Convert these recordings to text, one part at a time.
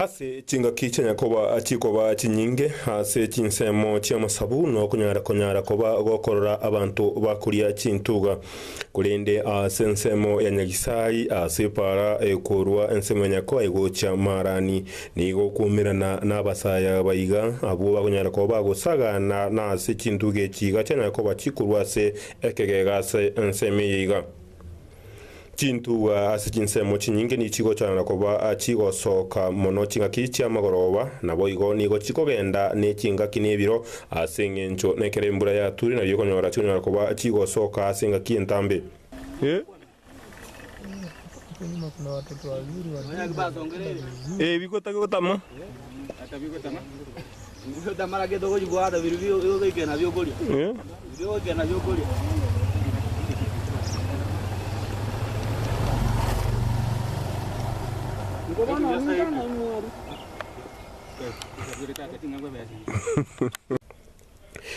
Ase chingaki chianya koba chikoba chinyinge ase chinsemo chi'amasabu nokonyara konyara koba gokorora abanto bakoria chintuga. Korende ase ensemo ya Nyagisai ase epaara ekorua ensemo ya Nyakoa egochia maarani, nigo okwoumerana nabasaya baiga abwo bakonyara koba bagosagana nase chintuga echi iga chianya koba chikorua ase ekegega ase ensemo eye iga. Chintugwa ase chinsemo chinyinge nigo chigochwana na koba chigosoka mono chingaki chi'amagoroba, naboigo nigo chikogenda ne chingaki nebiro, ase engencho nekero embura yature nario okonyora chikonyara koba chigosoka ase engaki entambe.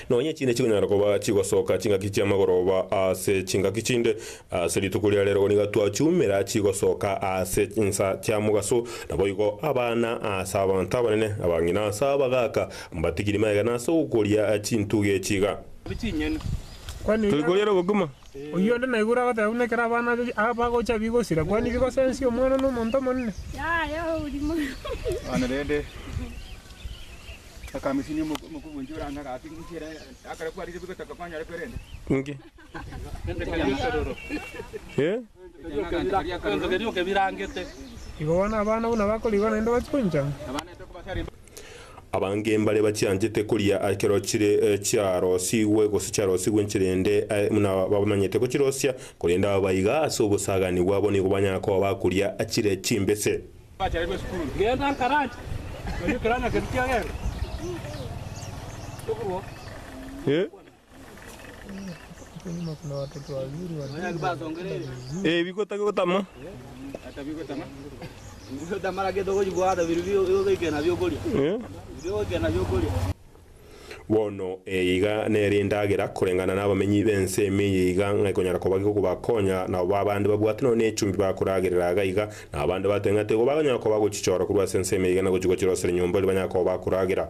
Nonya chinde chikonyara koba chigosoka chingaki chi'amagoroba ase chingaki chinde, Ase rituko ria reero nigo twachumera aachie gosoka ase chinsa chiamogaso, naboigo abana ase abanto abanene, abang'ina ase abagaaka, mbatigiri megena ase ogokoria chintugi echi iga. Turi koria na gokima. Oyio onde naigure agoteba buna ekero abana aba bagocha bigosira, kwani bigosensia omwana na omonto omonene? Abange mbare bachianchete koria ekero chire chiarosigwe, gose chiarosigwe enchera ende, aye buna bamanyete gochirosia, korende aba baiga ase obosaaganio bwabo nigo banyara koba bakoria chire chimbese. Bono eye iga nere endagera koreng'ana nabamenyi b'ense ime eye iga ng'a ekonyara koba gegokobakonya, nabo babe abande babwate nonya nechumbi bakoragerera iga iga, na abande bateng'ate igo baganyara koba gochichora korwa ase ense ime eye iga na gochigochera ase rinyomba riria banyare koba bakoragera.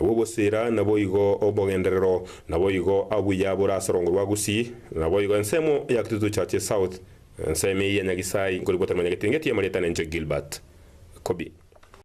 Nabo obosira, naboigo obogenderero, naboigo abuya bore ase rongo rwa Gusii, naboigo ensemo ya Kitutu Churches South, ensemo eye ya Nyagisai, nkorigwa tore manya getingetie, Marietane Nche Gilbert. Kobi.